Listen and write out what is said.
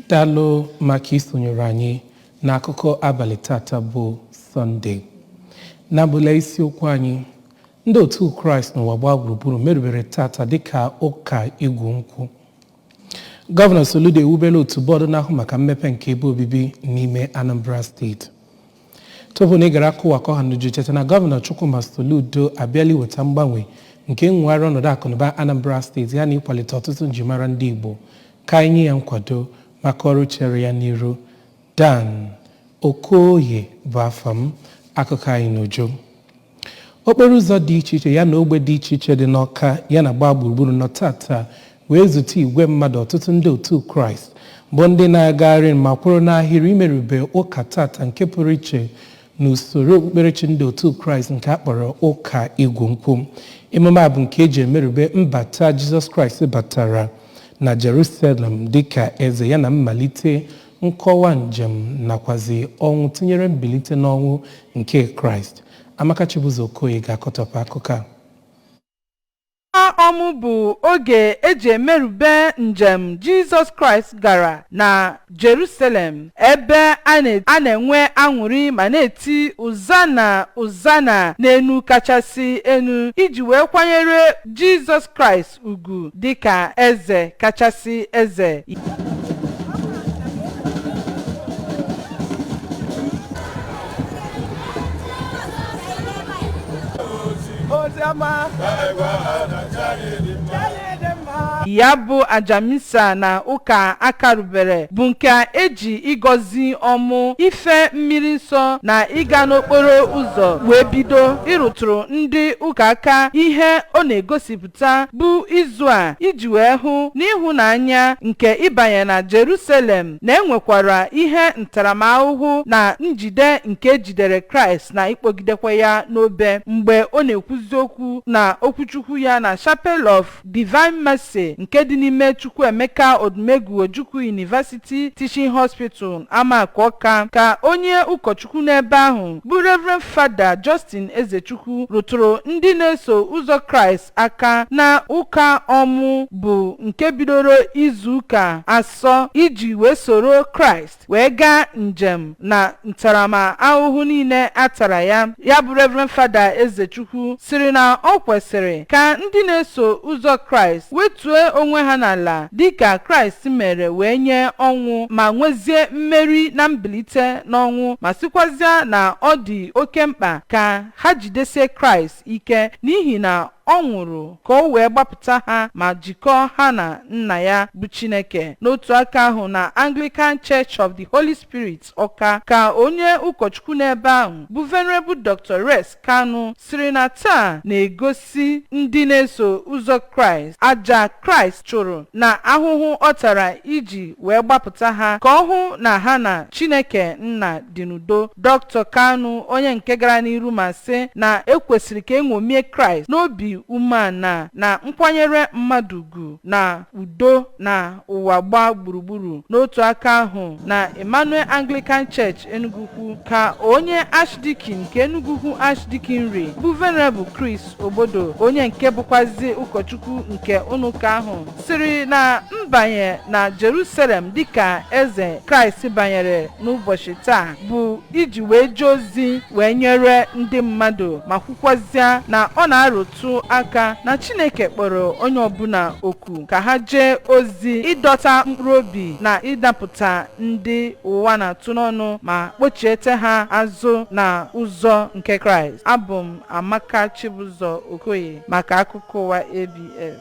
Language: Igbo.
dalụ maka isonyere anyị n'akụkọ abalị tata bụ sọnde na-abụla isiokwu anyị ndị otu kraịst n'ụwa gbaa gburugburu merubere tata dịka ụka igwu nkwụ gọvanọ soludo ewubela otu bọọdụ na-ahụ maka mmepe nke ebe obibi n'ime anambra steeti Tupu na ị gara akụwa ka ọha n'uju cheta na gọvanọ Chukwuma Soludo abịala iweta mgbanwe nke nwegharị ọnọdụ akụnụba Anambra steeti ya na ịkwalite ọtụtụ njimara ndị Igbo ka anyị nye ya nkwado maka ọrụ chere ya n'iru. Dan Okoye bụ afa m. Akụkọ anyị n'uju. Okporo ụzọ dị iche iche ya na ogbe dị iche iche dị n'Ọka ya na gbaa gburugburu nọ tata wee zute igwe mmadụ ọtụtụ ndị otu Kraịst bụ ndị na-agagharị ma kwụrụ n'ahịrị imerube ụka tata nke pụrụ iche n'usoro okpukperechi ndị otu Kraịst nke a kpọrọ ụka igwu nkwụ. Emume a bụ nke e ji emerube mbata Jizọs Kraịst batara na Jerusalem dịka eze ya na mmalite Nkọwa njem nakwazi ọnwụ tinyere mbilite n'ọnwụ nke Kraịst. Amaka Chibuzor Okoye ga-akọtọpụ akụkọ a. Ụka ọmụ bụ oge e ji emerube njem Jizọs Kraịst gara na Jerusalem, ebe a na-enwe aṅụrị ma na-eti Ozana, Ozana n'enu kachasị enu, iji wee kwanyere Jizọs Kraịst ugwu dịka eze kachasị eze ya bụ aja misa na ụka a karubere bụ nke e ji ịgọzi ọmụ ife mmiri nsọ na ịga n'okporo ụzọ wee bido ịrụtụrụ ndị ụka aka ihe ọ na-egosi pụta bụ izu a iji wee hụ n'ịhụnanya nke ịbanye na Jerusalem na e nwekwara ihe ntaramahụhụ na njide nke e jidere Kraịst na ịkpọgidekwa ya n'obe mgbe ọ na-ekwuzi okwu na okwuchukwu ya na Chapel of Divine Mercy nke dị n'ime Chukwuemeka Odumegwu Ojukwu University Teaching Hospital Amaku Ọka ka onye ụkọ Chukwu n'ebe ahụ, bụ Reverend Fada Justin Ezechukwu rụtụrụ ndị na-eso ụzọ Kraịst aka na ụka ọmụ bụ nke bidoro izu ụka asọ iji wee soro Kraịst wee gaa njem na ntaramahụhụ niile a tara ya. Ya bụ Reverend Fada Ezechukwu sịrị na o kwesịrị ka ndị na-eso ụzọ Kraịst wetue onwe ha n'ala Dịka Kraịst mere wee nye ọnwụ ma nwezie mmeri na mbilite n'ọnwụ ma sịkwazịa na ọ dị oke mkpa ka ha jidesie Kraịst ike n'ihi na ọ nwụrụ ka o wee gbapụta ha ma jikọọ ha na Nna ya bụ Chineke. N'otu aka ahụ na Anglican Church of the Holy Spirit Ọka ka onye ụkọchukwu n'ebe ahụ bụ Venerable Doctor Rex Kanu sịrị na taa na-egosi ndị na-eso ụzọ Kraịst aja Kraịst chụrụ na ahụhụ ọ tara iji wee gbapụta ha ka ọ hụ na ha na Chineke nna dị n'udo. Dr. Kanu onye nke gara n'iru ma sị na e kwesịrị ka e ṅomie Kraịst n'obi umeana na nkwanyere mmadụ ugwu na udo na ụwa gbaa gburugburu n'otu aka ahụ na Emmanuel Anglican Church Enugwu-Ukwu ka onye Archdeacon nke Enugwu-Ukwu Archdeaconry bụ Venerable Chris Obodo onye nke bụkwazi ụkọchukwu nke ụnọụka ahụ sịrị na mbanye na Jerusalem dịka eze Kraịst banyere n'ụbọchị taa bụ iji wee jee ozi wee nyere ndị mmadụ ma kwukwazịa na ọ na-arụtụ rụtụ aka na Chineke kpọrọ onye ọbụna oku ka ha jee ozi ịdọta mkpụrụ obi na ịdapụta ndị ụwa na-atụ n'ọnụ ma kpochiete ha azụ na ụzọ nke Kraịst. Abụ m Amaka Chibụzọ Okoye maka akụkọ ụwa ABS.